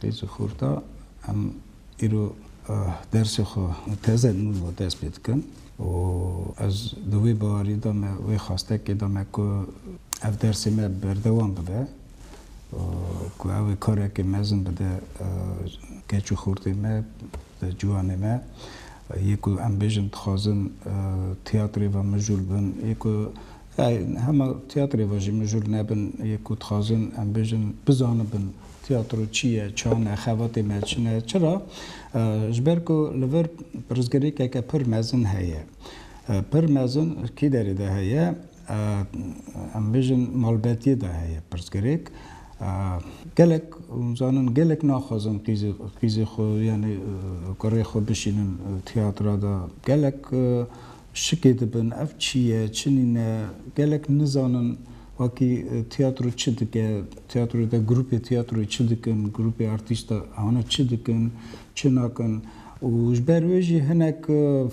Qîz û xorta em îro dersê xwe û teze nû xwe dest pê dikin û ez di wê bawerî de me, wê xwestekê de me ku ev dersê me berdewam bibe û ku ew ê karekê mezin bide keç û xortên me, ciwanê me. Yê ku em bêjin dixwazin tîyatrê ve mijûl bin, yê ku Ew hema tîyatrê ve jî mijûl nebin yê ku dixwazin em bêjin, bizanibin tîyatro çi ye, ça ne, xebatê me çi ne. Çira? Ji ber ku li vir pirsgirêkeke pir mezin heye. Pir mezin kî derê de heye? Em bêjin malbetiyê de heye pirsgirêk. Gelek hûn zanin, gelek naxwazin qîzê qîzê xwe yanî kurê xwe bişînin tîyatra de. Gelek Şikê dibin ev çi ye, çi nîne, gelek nizanin wakî tiyatro çi dike, tiyatroyê de grûpê tiyatroyê çi dikin, grûpê artîst de hane çi dikin, çi nakin û ji ber wê jî hinek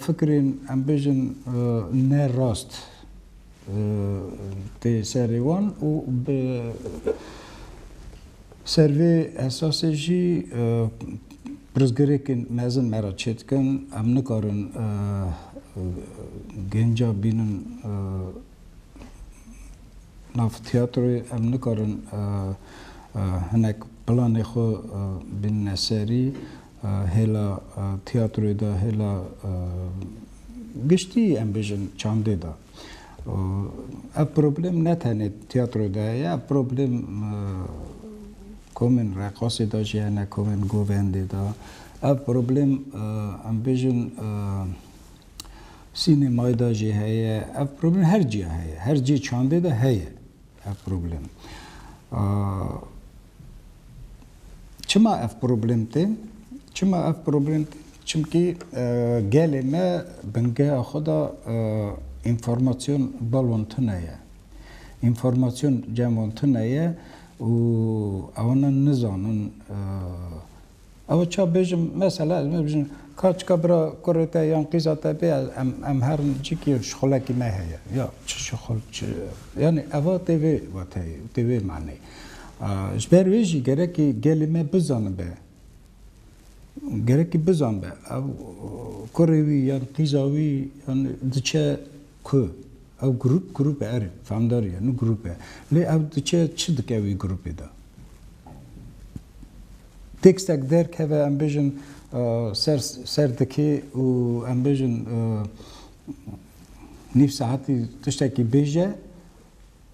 fikirên em bêjin ne rast tê serê wan û bi Ser vê esasê jî pirsgirêkên mezin me re çêdikin, em nikarin genca bînin nav tîyatroyê, em nikarin hinek planê xwe bînine serî, hêla tîyatroyê de, hêla giştî em bêjin çandê de. Û ev problem ne tenê tîyatroyê de heye, ev problem komên reqasê de jî hene, komên govendê de. Ev problem em bêjin sînemayê de jî heye. Ev problem her cîya heye. Her cî çandê de heye ev problem. Çima ev problem tê? Çima ev problem tê? Çimkî gelê me bingeha xwe de înformasyon balon tune ye. Înformasyon cem û tune ye û ew ne nizanin Ew e ça bêjim mesela ez me bijin ka çika bira kurê te yan qîza te bê em em herin cikî şixulekî me heye ya çi şixul çi yanî eva tê vê wateyê û tê vê maneyê. Ji ber wê jî gerekî gelê me bizanibe gerekî bizanibe ew kurê wî yan qîza wî yan diçe ku ew grûp grûp e erê famdar ye nû grûp e lê ew diçe çi dike wî grûpê de. Têkstek derkeve em bêjin ser ser dikê û em bêjin nîv saetî tiştekî bêje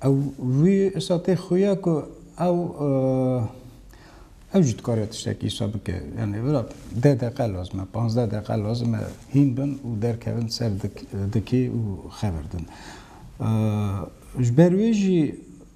ew wî îsa tê xuya ku ew ew jî dikare tiştekî îsa bike. Yanî vira deh deqe lazim e, panzdeh deqe lazim e hîn bin û derkevin ser dikê û xevirdin. Ji ber wê jî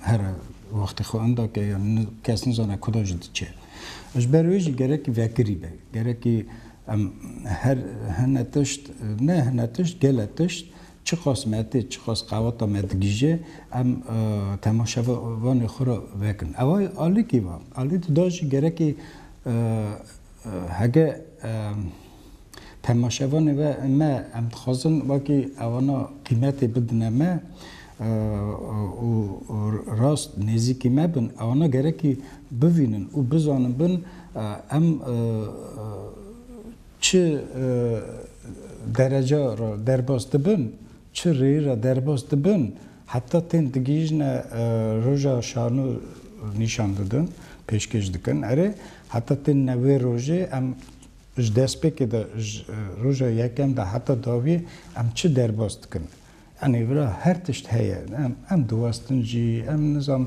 her wextê xwe enda ke yan kes nizane kuda jî diçe. Ji ber wê jî gerekî vekirî be. Gerekî em her hene tişt, ne hene tişt, gelek tişt çiqas me tê, çiqas qeweta me digihîje em temaşevanê xwe re vekin. Ew alîkî va. Alî dida jî gerekî hege Temaşevanê ve me em dixwazin wekî ewana qîmetê bidine me û rast nêzîkî me bin. Ewana gerekî bivînin û bizanin bin em çi dereca re derbas dibin, çi rêyî re derbas dibin heta tên digihîjine roja şano nîşan didin, pêşkêş dikin. Erê heta tên ne wê rojê em Ji destpêkê de, ji roja yekem de heta dawiyê em çi derbas dikin? Yanî vira her tişt heye. Em diwestin jî, em nizam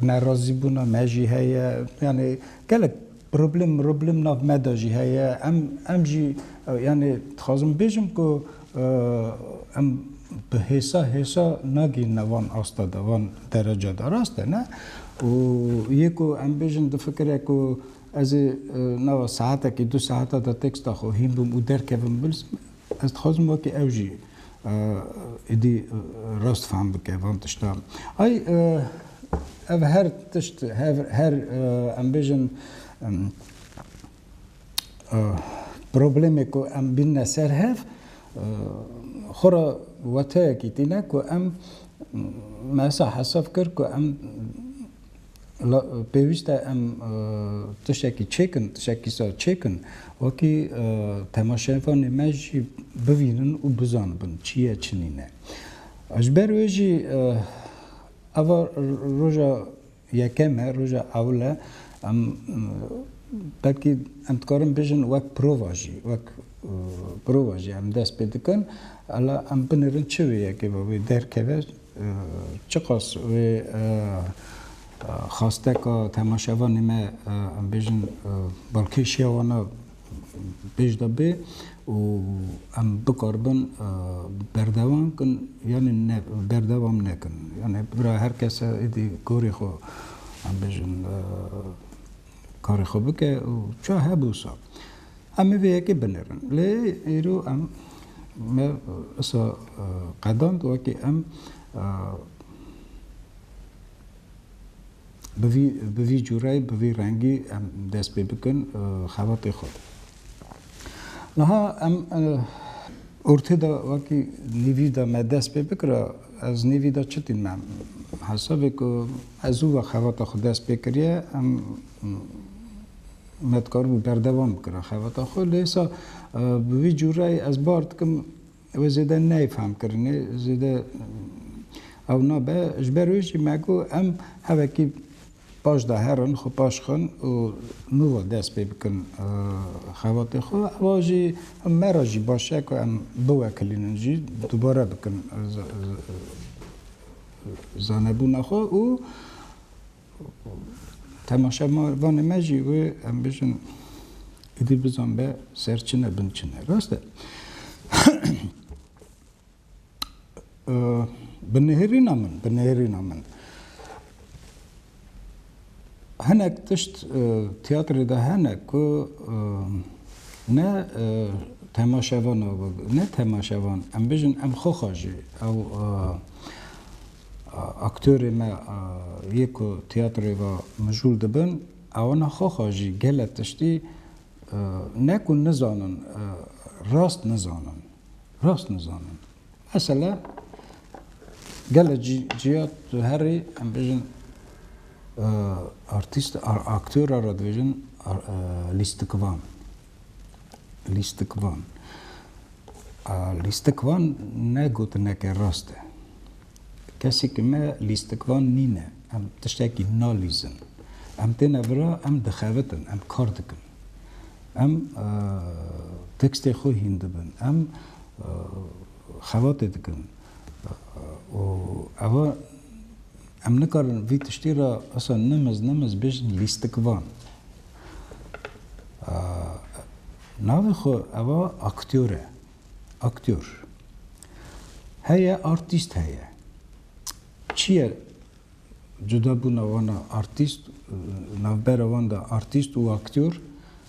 nerazîbûna me jî heye. Yanî gelek problem miroblim nav me de jî heye. Em em jî yanî dixwazim bêjim ku Em bi hêsa hêsa nagihîne van asta de, van dereca de. Rast e ne? Û yê ku em bêjin difikire ku ez ê nava saetekî du saeta de têksta xwe hîn bim û derkevim bilsim, ez dixwazim wekî ew jî êdî rast fehm bike van tiştan. Ay ev her tişt, her em bêjin Problemê ku em bînine ser hev xwe re wateyekî tîne ku em me wisa hesab kir ku em pêwîst e em tiştekî çêkin, tiştekî sar çêkin wekî temaşevanê me jî bivînin û bizanibin çi ye çi nîne. Ji ber wê jî eva roja Yekem e, roja ewil e. Em belkî em dikarin bijin wek prova jî, wek prova jî em dest pê dikin. Ela em binirin çi wê yekê ve wê derkeve, çiqas wê xasteka temaşevanê me em bêjin balkêşiya wan a pêşde bê û em bikaribin berdewam bikin yanî berdewam nekin. Yanî bira her kes e êdî gorî xwe em bêjin karê xwe bike û çawa hebû wisa em ê vê yekê binêrin. Lê îro em me wisa qedand wekî em Bi vî bi vî cûreyê, bi vî rengî em dest pê bikin xebatê xwe. Niha em ortê de wekî nîvî de me dest pê bikira, ez nîvî de çi tîn me hesabê ku me zû ve xebata xwe dest pê kiriye, em me dikaribû berdewam bikira xebata xwe. Lê îsa bi vî cûreyê ez bar dikim, Ew zêde neyê fehmkirinê, zêde ew nabe. Ji ber wê jî me got em hevekî paş de herin, xwe paş xin û nûva dest pê bikin xebatê xwe. Ewa jî me re jî baş e ku em biwekilînin jî dubare bikin zanebûna xwe û. Temaşa ma vanê me jî wê em bijin êdî bizan be ser çi ne bin çi ne. Rast e. Bi nêhêrîna min, bi nêhêrîna min. Hinek tişt tiyatrê de hene ku ne temaşevan ne temaşevan em bijin em xwe xwe jî ew Aktörê me yê ku tiyatroyê ve mijûl dibin ewna xwe xwe jî gele tiştî ne ku nizanin rast nizanin rast nizanin. Mesela gele ciya tu herî em bêjin artîst aktora re dibêjin lîstikivan. Lîstikvan A lîstikvan ne gotineke rast e. Kesekî me lîstikvan nîne. Em tiştekî nalîzin. Em têne vira, em dixebitin, em kar dikin. Em tekstê xwe hîn dibin. Em xebatê dikin. Û eva Em nikarin vî tiştî re asa nimiz nimiz bêjin lîstikvan. Navê xwe eva aktyor e. Aktyor. Heye artîst heye. Çi ye cudabûna wan a artîst, navbera wan de artîst û aktyor?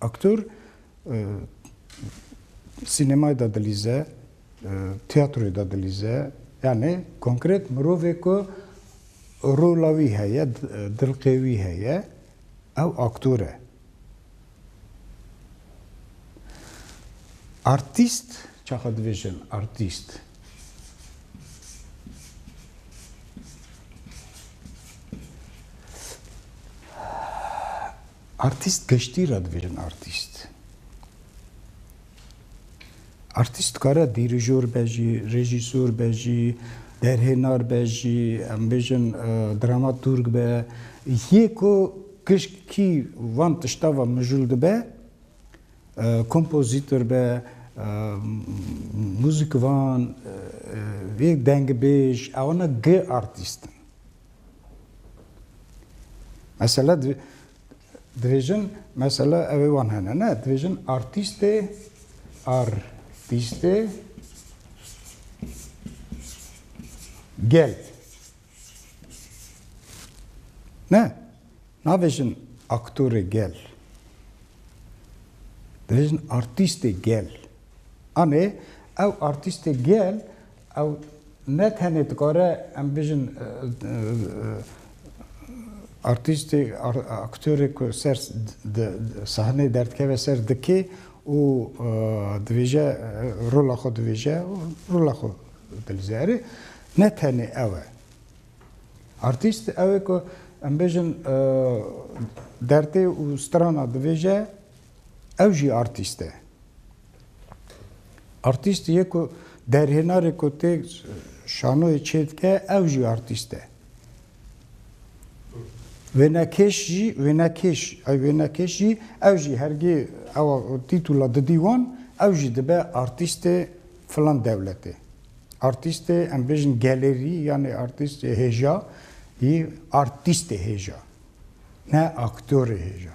Aktor sînemayê de dilîze, tîyatroyê de dilîze, yanî konkret mirovê ku rola wî heye, dilqê wî heye, ew aktor e. Artîst, çaxa dibêjin artîst. Artîst geştî re dibêjin artîst. Artîst dikare dîrijor be jî, rejîsor be jî, derhênar be jî, em bêjin dramaturg be. Yê ku gişkî van tişta ve mijûl dibe, kompozîtor be, muzîkvan, vê dengibêj, ewana gi artîst in. Mesela dibêjin mesela ew ê wan hene ne dibêjin artîstê artîstê gel ne nabêjin aktorê gel dibêjin artîstê gel anê ew artîstê gel Ew ne tenê dikare em bijin artîstê, aktörê ku ser sahneyê derdikeve ser dikê û dibêje rola xwe dibêje û rola xwe dilîze. Erê ne tenê ew e. Artîst ew e ku em bijin derdê û strana dibêje Ew jî artîst e. Artîst yê ku derhênarê ku tê şanoyê çêdike ew jî artîst e. Wênekêş jî wênekêş ew wênekêş jî ew jî hergê ewa tîtula didî wan ew jî dibe artîstê filan dewletê. Artîstê em bêjin gelerî yanê artîstê hêja yî artîstê hêja ne aktorê hêja.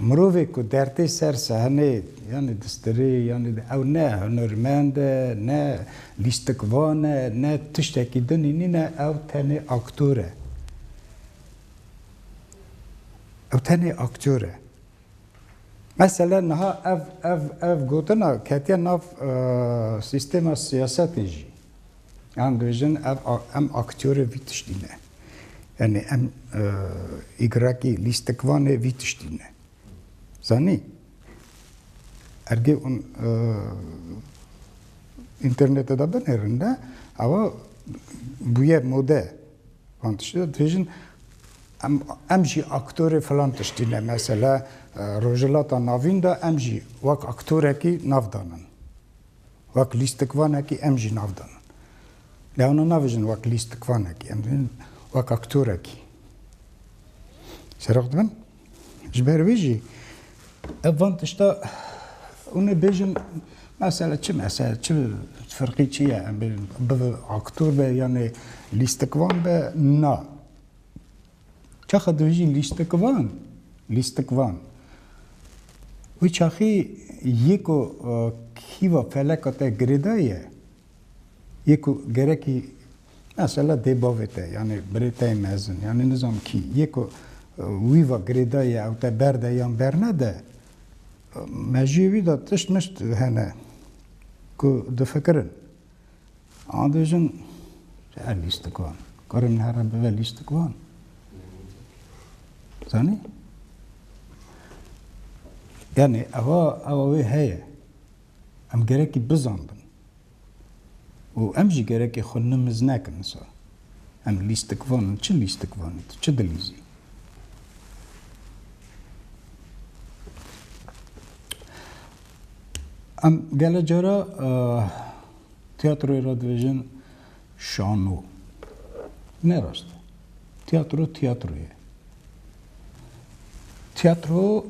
Mirovê ku dertê ser sehneyê yanî distirê yanî ew ne hunermend e, ne lîstikvan e, ne tiştekî din e nîne ew tenê aktor e. Ew tenê aktor e. Mesela niha ev ev ev gotina ketiye nav sîstema siyasetê jî. Em dibêjin ev em aktörê vî tiştî ne. Yanî em îgrekî lîstikvanê vî tiştî ne. Zanî? Ergê hûn internetê de binêrin de ewa bûye mode van tiştî de dibêjin em em jî aktörê filan tiştî ne. Mesela Rojhilata Navîn de em jî wek aktorekî nav danin. Wek lîstikvanekî em jî nav dan. Lê wana navêjin wek lîstikvanekî, em dibin wek aktorekî serox dibin. Ji ber vê jî ev van tişta hûn ê bêjin mesela çi mesela çi firqî çi ye em bêjin bibe aktor be yanê lîstikvan be na. Çaxa dû jî lîstikvan, lîstikvan. Wê çaxê yê ku kîva feleka te girê da ye, yê ku gerekî mesela dê bavê te yanî birê te yê mezin yanî nizanim kî yê ku wî va girê da ye ew te berde yan bernede, mejiyê wî de tişt mişt hene ku difikirin. Em bêjin her lîstik wan. Karin her em bibe lîstik wan. Zanî? Yani eva eva wê heye. Em gerekî bizanbin. û em jî gerekê xwe nimiz nekin sa. Em lîstik van in, çi lîstik van in, çi dilîzî. Em gelek cara tiyatroyê re dibêjin şano. Ne rast e. Tiyatro tiyatro ye. Tiyatro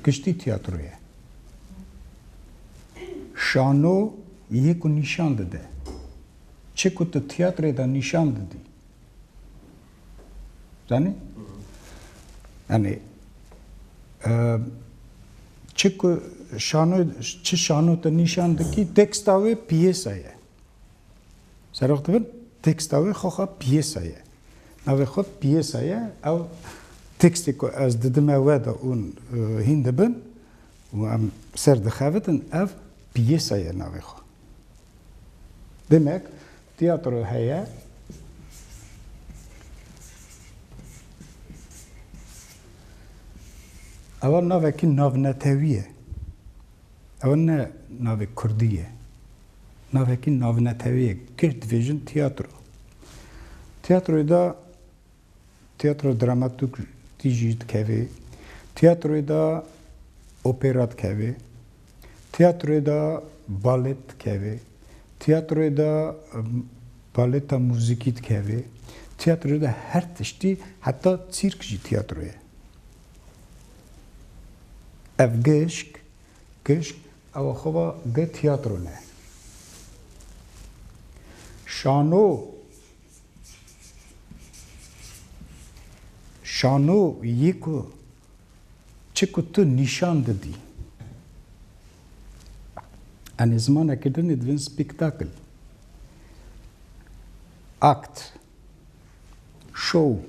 giştî tiyatro ye. Şano yê ku nîşan dide. Çi ku tu tiyatroyê de nîşan didî. Zanî? Yanî çi ku şano çi şano te nîşan dikî teksta wê piyêsa ye. Serok dibin teksta wê xwexa piyêsa ye. Navê xwe piyêsa ye ew tekstê ku ez didime we de ûn hîn dibin û em ser dixevitin ev piyêsa ye navê xwe. Demek tiyatro heye. Ewa navekî navnetewî ye. Ewa ne navê kurdî ye. Navekî navnetewî ye. Girt vêjin tiyatro. Tiyatroyê de Tiyatro dramatik tî jî dikevê. Tiyatroyê de opera dikevê. Tiyatroyê de balet dikevê. Tiyatroyê de baleta muzîkî dikevê. Tiyatroyê de her tiştî heta tsîrk jî tiyatroyê ye. Ev gişk gişk ewa xwe va gi tiyatro ne. Şano Şano yê ku çi ku tu nîşan didî. Em ê zimanekê dinê divên spectacle, act, show.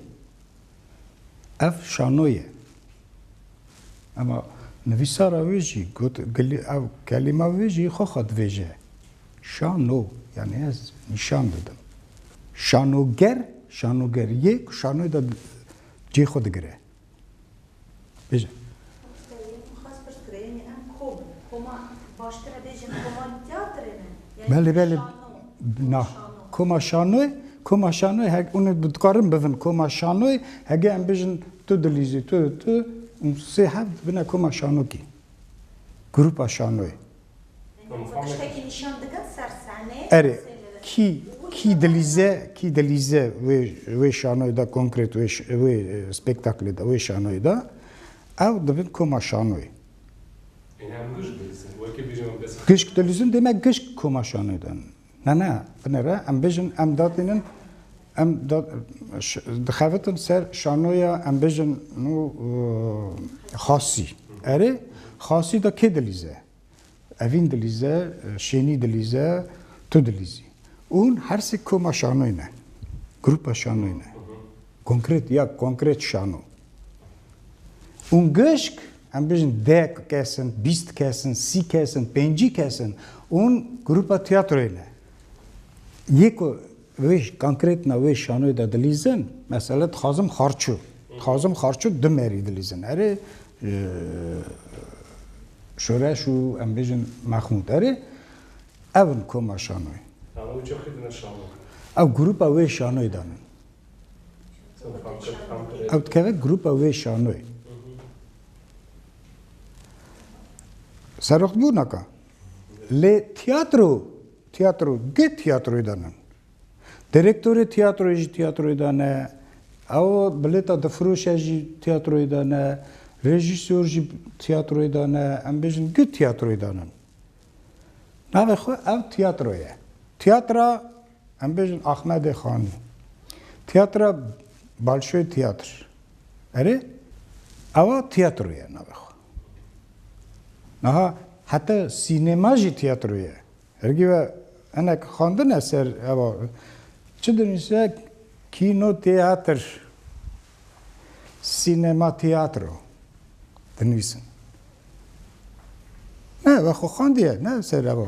Ev şano ye. Ama nivîsara wê jî got, ev kelîma wê jî xwexa dibêje. Şano, yanî ez nîşan didim. Şanoger, şanoger yê ku şanoyê de cihê xwe digire. Bêje. Belê, belê. Na. Koma şanoyê, koma şanoyê hek û dikarin bivin koma şanoyê hege em bijin tu dilîzî tu tu û sê heft bine koma şanokî. Grupa şanoyê. Erê, kî kî dilîze kî dilîze wê wê şanoyê de konkret wê wê spêktaklê de wê şanoyê de ew dibin koma şanoyê. Gişk dilîzin dê me gişk koma şanoyê de Ne ne, binêre em bijin em datînin em dixebitin ser şanoya em bijin nû xasî. Erê xasî de kê dilîze? Evîn dilîze, şênî dilîze, tu dilîzî. Ûn her sê koma şanoyê ne. Grupa şanoyê ne. Konkret ya konkret şano. Û gişk em bijin dek kes in, bîst kes in, sî kes in, pêncî kes in û grûpa tîyatroyê ne. Yê ku wê konkret na wê şanoyê de dilîzin, mesela dixwazim xarçû, dixwazim xarçû du merî dilîzin. Erê şoreş û em bijin Mexmûd erê ev in koma şanoyê. Ew çaxî dine şanoyê. Ew grûpa wê şanoyê de ne. Ew dikeve grûpa wê şanoyê. Serox bû naka. Lê tiyatro, tiyatro dê tiyatroyê de ne. Direktorê tiyatroyê jî tiyatroyê de ne. Ew bilêta difiroşe jî tiyatroyê de ne. Rejîsor jî tiyatroyê de ne. Em bêjin dê tiyatroyê de ne. Navê xwe ev tiyatro ye. Tiyatra Em bêjin Axmedê Xanî. Tiyatra Balşoy Tiyatr. Erê ewa tiyatro ye navê xwe. Niha heta sînema jî tiyatro ye. Hergî ve hinek xwendine ser ewa. Çi dinivîse kîno tiyatr, sînema tiyatro dinivîsin. Ne ewa xwe xwendiye ne ser ewa.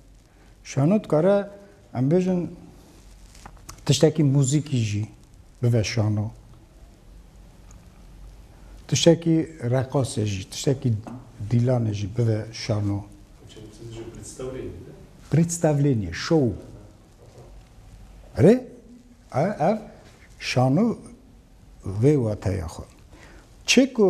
Şano dikare em bêjin tiştekî muzîkî jî bive şano. Tiştekî reqasê jî, tiştekî dîlanê jî bive şano. Predstavlênî, şow. Rê ev şano vê wateya xwe. Çê ku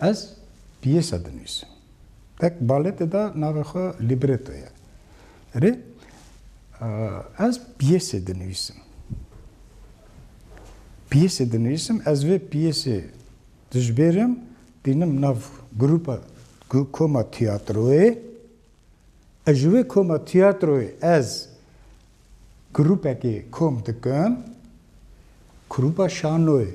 Ez piyêsa dinivîsim. Tek baletê de navê xwe libreto ye. Rê ez piyêsê dinivîsim. Piyêsê dinivîsim, ez vê piyêsê dijbêrim, tînim nav grûpa koma tîyatroyê. Ez ji wê koma tîyatroyê ez grûpekê kom dikim, grûpa şanoyê.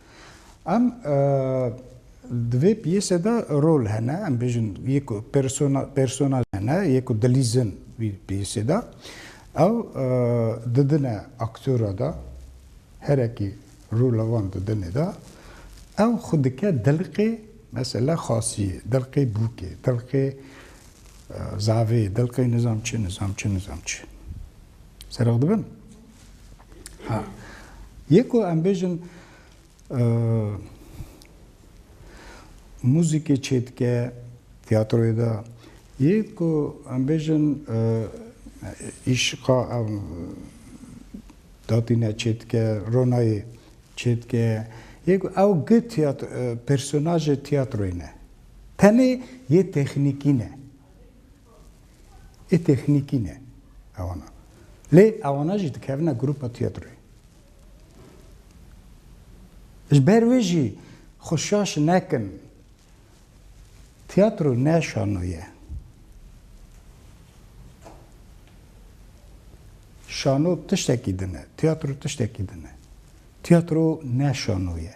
Em di vê piyêse de rol hene, em bêjin yê ku persona personaj hene, yê ku dilîzin vî piyêsê de ew didine aktora de, herekî rola wan didinê de ew xwe dike dilqê mesela xasiyê, dilqê bûkê, dilqê zavê, dilqê nizam çi nizam çi nizam çi. Serok dibin? Ha. Yê ku em bêjin muzîkê çêdike tiyatroyê de yê ku em bêjin îşiqa ew datîne çêdike ronayê çêdike yê ku ew gi personajê tiyatroyê ne. Tenê yê texnîkî ne. Ê têxnîkî ne ewana. Lê ewana jî dikevine grûpa tîyatroyê. Ji ber wê jî xwe şaş nekin. Tîyatro ne şano ye. Şano tiştekî din e. Tîyatro tiştekî din e. Tîyatro ne şano ye.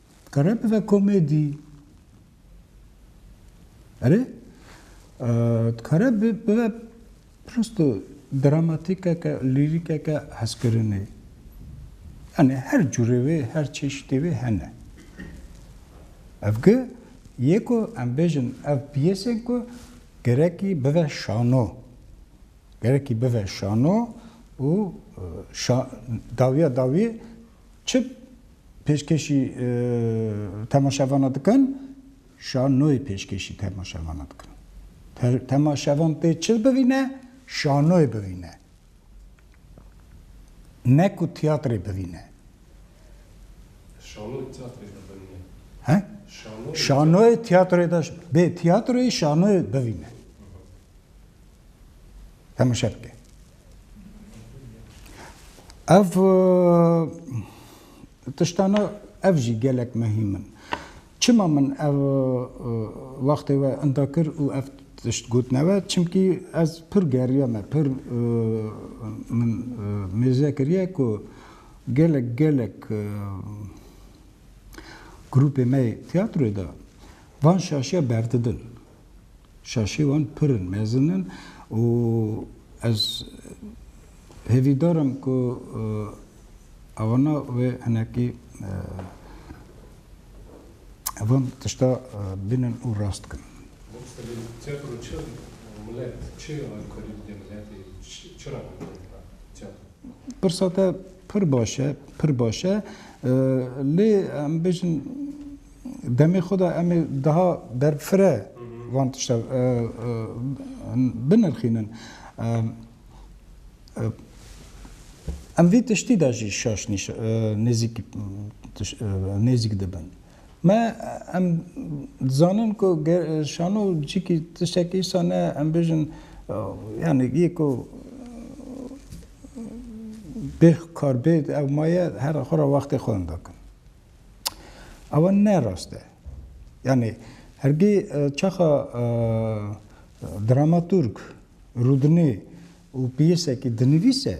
Dikare bibe komedî. Erê dikare bibe prosto dramatîkeke, lîrîkeke hezkirinê. Yanî her cûrê wê, her çeşîtê wê hene. Ev gi yê ku em bêjin ev piyesên ku gerekî bibe şano. Gerekî bibe şano û dawiya dawiyê Çi pêşkêşî temaşevana dikin? Şanoyê pêşkêşî temaşevana dikin. Temaşevan tê çi bivîne? Şanoyê bivîne. Ne ku tiyatrê bivîne. Şanoyê tiyatrê de bivîne. He? Şanoyê tiyatrê de bê tiyatroyê şanoyê bivîne. Temaşe bike. Ev tiştana ev jî gelek mehîm in. Çima min ev wextê we inda kir û ev tişt gotine we? Çimkî ez pir geriya me, pir min mêze kiriye ku gelek gelek grûpê me yê tîyatroyê de van şaşiya berdidin. Şaşê wan pir in, mezin in û ez hêvîdar im ku awana wê hinekî van tişta bînin û rast bikin. Mûslim, tiyatro çi milet, çi alkolî dide miletê, çi re van milet re tiyatro? Pirsa te pir baş e, pir baş e. Lê em bêjin, Demê xwe de em ê daha berfireh van tişta binirxînin. Em vê tiştî de jî şaş nêzîk dibin. Me em dizanin ku şano cikî tiştekî îsa ne em bêjin yanî yê ku bê karbê ew maye her xwe ra wextê xwe indakin. Ewa ne rast e. Yanî hergî çaxa dramaturg rûdinê û pîyesekî dinivîse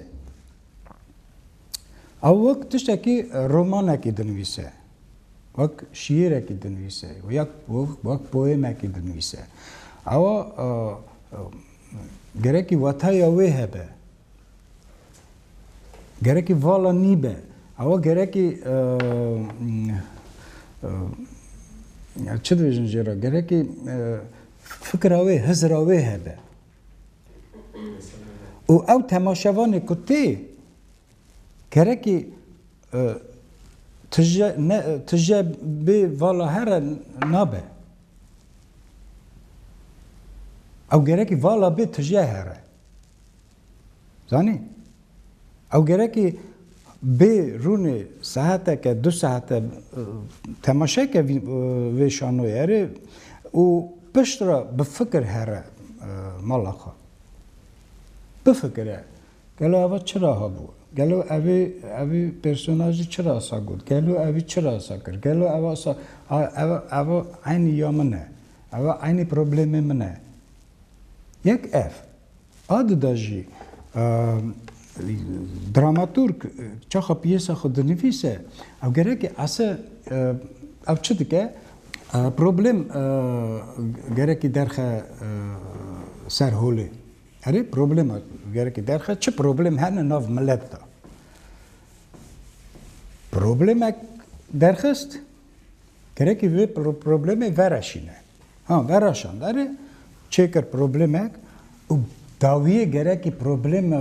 ew wek tiştekî romanekî dinivîse, wek şîîrekî dinivîse ya wek poemekî dinivîse ewa gerekî wataya wê hebe. Gerekî vala nîbe. Ewa gerekî çi dibêjin jê re? Gerekî fikra wê, hizira wê hebe. û ew temaşevanê ku tê gerekî tije ne tije bê vala here nabe. Ew gerekî vala bê tije here. Zanî? Ew gerekî bê rûnê saeteke du saete temaşeke vê şanoyê erê û pişt re bi fikir here mala xwe. Bifikire gelo eva çira hebû, gelo evê evê personajî çira sa got, gelo evî çira sa kir, gelo eva sa eva eva eynî ya min e, eva eynî problemê min e. Yek ev. A di de jî dramaturg çaxa piyêsa xwe dinivîse ew gerekî ese ew çi dike? Problem gerekî derxe ser holê. Erê problema gerekî derxe çi problem hene nav milet de? Problemek derxist gerekî vê problemê vereşîne. Ha vera şandarê çêkir problemek û dawiyê gerekî probleme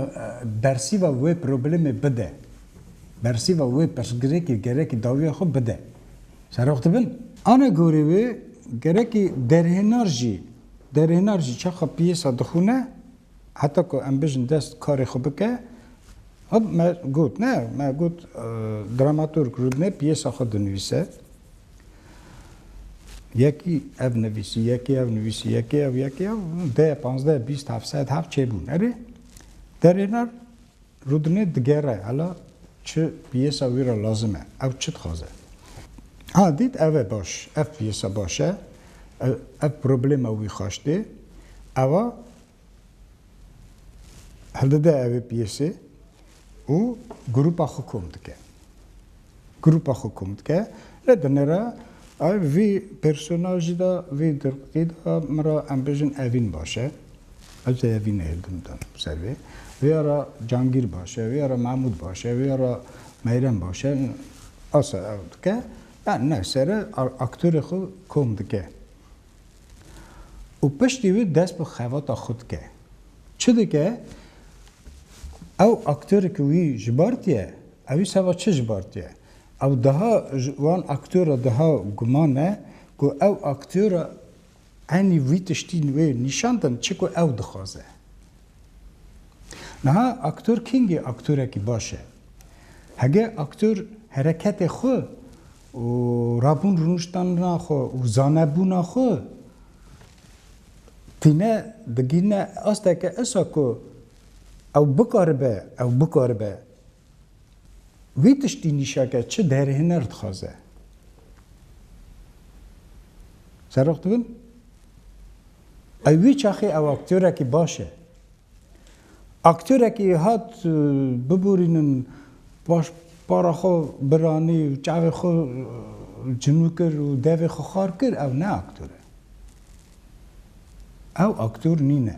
bersîva wê problemê bide. Bersîva wê pirsgirêkê gerekî dawiya xwe bide. Serox dibin? Ana gorî wê gerekî derhênar jî derhênar jî çaxa piyêsa dixwîne heta ku em bijin dest karê xwe bike hop me got ne me got dramaturg rûdine piyêsa xwe dinivîse. Yekî ev nivîsî, yekî ev nivîsî, yekî ev, yekî ev, deh, panzdeh, bîst, heft sed, heft çêbûn. Erê, derêna rûdinê digere, hela çi piyêsa wî re lazim e, ew çi dixwaze. Ha dît ev e baş, ev piyêsa baş e, ev problema wî xweş tê, ewa Hildide ev ê piyêsê û grûpa xwe kom dike. Grûpa xwe kom dike. Lê di nera ev vî pêrsonajî de, vî dirqî de min re em bêjin Evîn baş e. Ez ê Evînê hildim dan ser vê. Vê ara Cangîr baş e, vê ara Mehmûd baş e, vê ara Meyrem baş e. Asa ew dike. Yan ne sere aktorê xwe kom dike. û piştî wî dest bi xevata xwe dike. Çi dike? Ew aktore ku wî ji bar tiye, ew wî seba çi ji bar tiye? Ew diha ji wan aktore diha guman e ku ew aktore enî wî tiştîn wê nîşan din çi ku ew dixwaze. Niha aktor kengî aktorekî baş e? Hege aktor hereketê xwe û rabûn rûniştana xwe û zanebûna xwe tîne digihîne asteke esa ku ew bikaribe ew bikaribe wî tiştî nîşake çi derê huner dixwaze. Serok dibin? Ew wî çaxê ew aktyorekî baş e. Aktorekî hat biborînin paş para xwe biranî û çavê xwe cinû kir û devê xwe xar kir ew ne aktor e. Ew aktor nîne.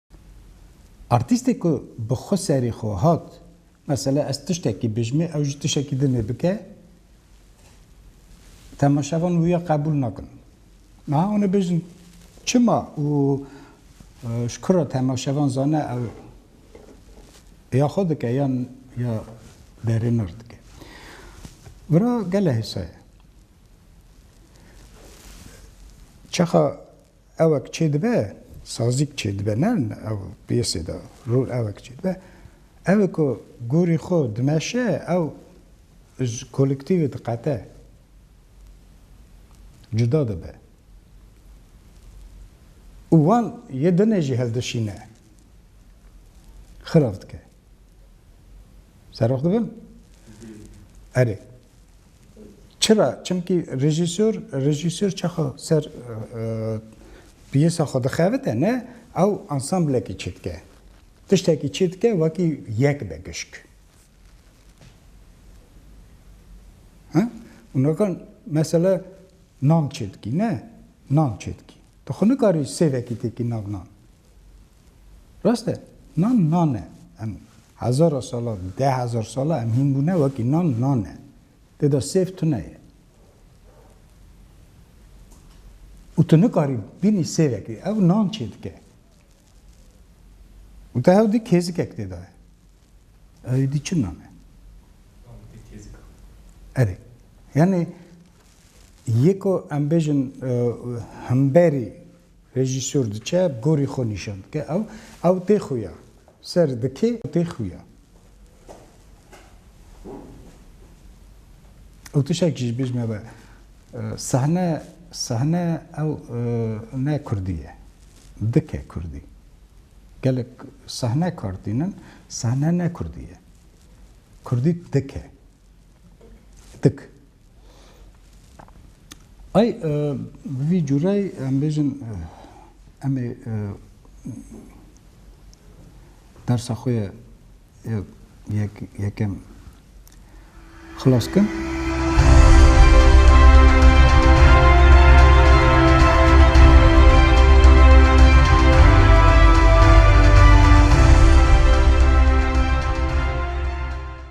Artîstê ku bi xwe serê xwe hat mesela ez tiştekî bijimê ew jî tiştekî din ê bike temaşevan wiya qebûl nakin. Niha hûn ê bêjin çima û ji kira temaşevan zane ew ya xwe dike yan ya berêner dike. Vira gele hêsa ye. Çaxa Ewek çêdibe, sazîk çêdibe ne ew piyesê de rûl ewek çêdibe. Ewê ku gorî xwe dimeşe ew ji kolektîvê diqete, cuda dibe û wan yê dinê jî hildişîne, xirav dike. Serox dibim? Erê. Çira? Çimkî rejîsor rejîsor çaxa ser piyesa xwe dixevite ne ew ansamblekî çi dike. Tiştekî çi dike wekî yek be gişk. Unakan mesela nam çêdikî ne nam çêdikî. Tu xwe nikarî sêvekî têkî nav nan. Rast e. Nan nan e. Em hezara sala, deh hezar sala em hîn bûne wekî nan nan e. Tê de sêv tune ye. Û tu nikarî bînî sêvekê ew nan çê dike. Û te hew dî kêzikek tê de ye. Ew dî çi nan e? Erê. Yanî yeko em bêjin hemberî Rejîsor diçe gorî xwe nîşan dike ew ew tê xwe ya. Ser dikê ew tê xwe ya. Ew tişek jî ji bîr nebe. Sahne sahne ew ne kurdî ye. Dike kurdî. Gelek sahne kar tînin, sahne ne kurdî ye. Kurdî dike. Dik. Ay bi vî cure em bêjin em ê dersa xwe ye yekem xilas bikin.